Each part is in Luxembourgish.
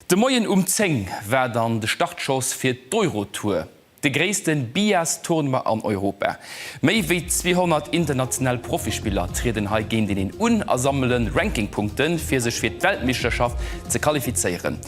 De Moien um 10 war dann de Startschoss fir d'Eurotour, de gréisste Billars-Tournoi an Europa. Méi wéi 200 international Profispiller trieden hei géinteneen un a sammele Rankingpunkte fir sech fir d'Weltmeeschterschaft ze qualifizéieren.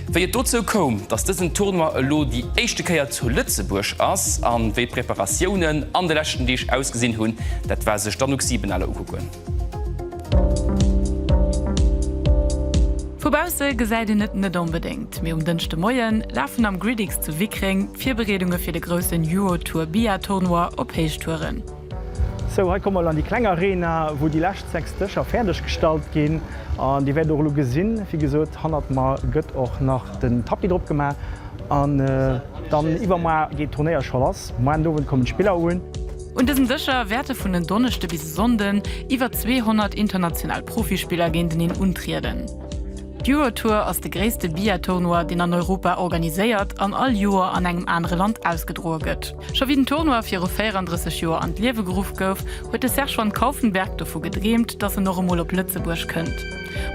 Wéi et dozou koum, dass dësen Tournoi elo déi éischte Kéier zu Lëtzebuerg ass an wéi Preparatiounen an de leschten Deeg ausgesinn hunn, dat war sech d'Anouk Siebenaler ukucken. Vu bausse gesäit een et net onbedéngt, mee um Dënschdemoie lafen am Gridix zu Wickreng d'Virbereedunge fir de groussen Eurotour Bia-Tournoi op Héichtouren. Sou, hei komme mer elo an déi kleng Arena, wou déi lescht 6 Dëscher fäerdeg gestallt ginn. An Dir wäert och elo gesinn, wéi gesot, hannert mer gëtt och nach den Tapis drop gemaach. An dann iwwermar geet d'Turnéier scho lass. Moien Owend kommen d'Spiller un. Un dësem Dëscher wäerte vun en Donneschde bis e Sonnden iwwer 200 international Profispiller géinteneen untrieden. D'Eurotour ass de gréisste Billard-Tournoi, deen an Europa organiséiert an all Joer an engem anere Land ausgedroe gëtt. Scho wéi den Tournoi viru 34 Joer an d'Liewe geruff gouf, huet de Serge van Kaufenberg dovu gedreemt, datt en och emol op Lëtzebuerg kënnt.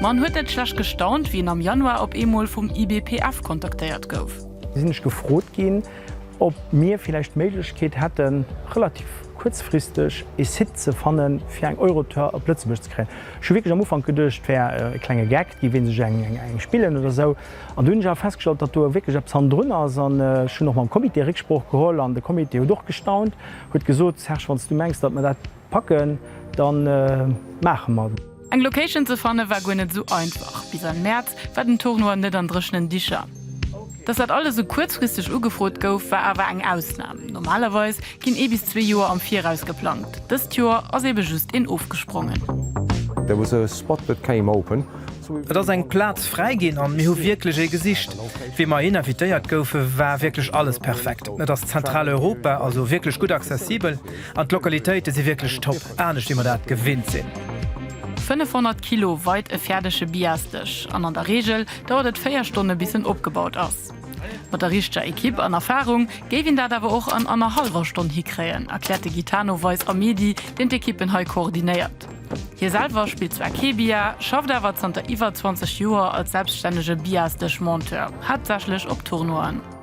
Ma en huet net schlecht gestaunt, wéi en am Januar op eemol vum IBPF kontaktéiert gouf. Sinn ech gefrot ginn, ob mir villäicht d'Méiglechkeet hätten, relativ kuerzfristeg ee Site ze fannen, fir eng Eurotour op Lëtzebuerg ze kréien. Ech hu wierklech am Ufank geduecht, et wär e klenge Gag, déi wéilt sech eng spillen oder esou. An dunn hunn ech awer festgestallt, datt do wierklech eppes hannendrun ass. An ech hunn och mam Comité Récksprooch geholl an de Comité huet och gestaunt, huet gesot, Serge, wann s du mengs, datt mer dat packen, da maache mer. Eng Location ze fanne war guer net esou einfach. Bis an Mäerz war den Tournoi net an dréchenen Dicher. Dass dat alles esou kuerzfristeg ugefrot gouf, war awer eng Ausnam. Normalerweis ginn ee bis zwee Joer am Viraus geplangt. Dëst Joer ass ebe just een ofgesprongen. Et ass eng Plaz fräi ginn an mir hu wierklech ee gesicht. Wéi mer hin invitéiert goufe war wierklech alles perfekt. Et ass Zentraleuropa, also wierklech gutt accessibel. An d'Lokalitéite si wierklech top, anescht wéi mer dat gewinnt sinn. 500 Kilo weit e fäerdege Biasdësch an an der Reegel dauert et 4 Stonne bis en opgebaut ass. Mat der richteger Ekipp an Erfarung géif een dat awer och an annerhallwer Stonn hikréien, erkläert de Gitano Weis Amedi, deen d'Ekippen hei koordinéiert. Hie selwer spillt zwar kee Bia, schafft awer zanter iwwer 20 Joer als selbststännege Biasdësch-Monteur, haaptsächlech op Tournoien.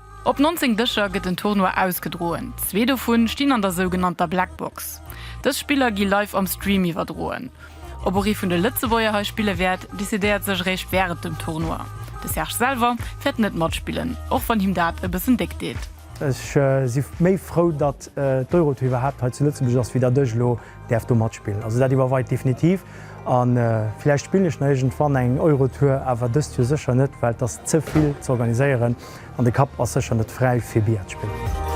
Op 19 Dëscher gëtt den Tournoi ausgedroen, zwee dovun stinn an der sougenannter Black Box. Dës Spiller gi live am Stream iwwerdroen. Ob och ee vun de Lëtzebuerger hei spille wäert, decidéiert sech eréischt wärend dem Tournoi. De Serge selwer wäert net matspillen, och wann him dat e bëssen déck deet. Ech si méi frou, datt d'Eurotour iwwerhaapt hei zu Lëtzebuerg ass, wéi datt ech elo däerf do matspillen. Also dat iwwer weit definitiv. A villäicht spillen ech nach iergendwann eng Eurotour, awer dëst Joer sécher net, well et ass ze vill ze organiséieren an de Kapp ass sécher net fräi fir Billard ze spillen.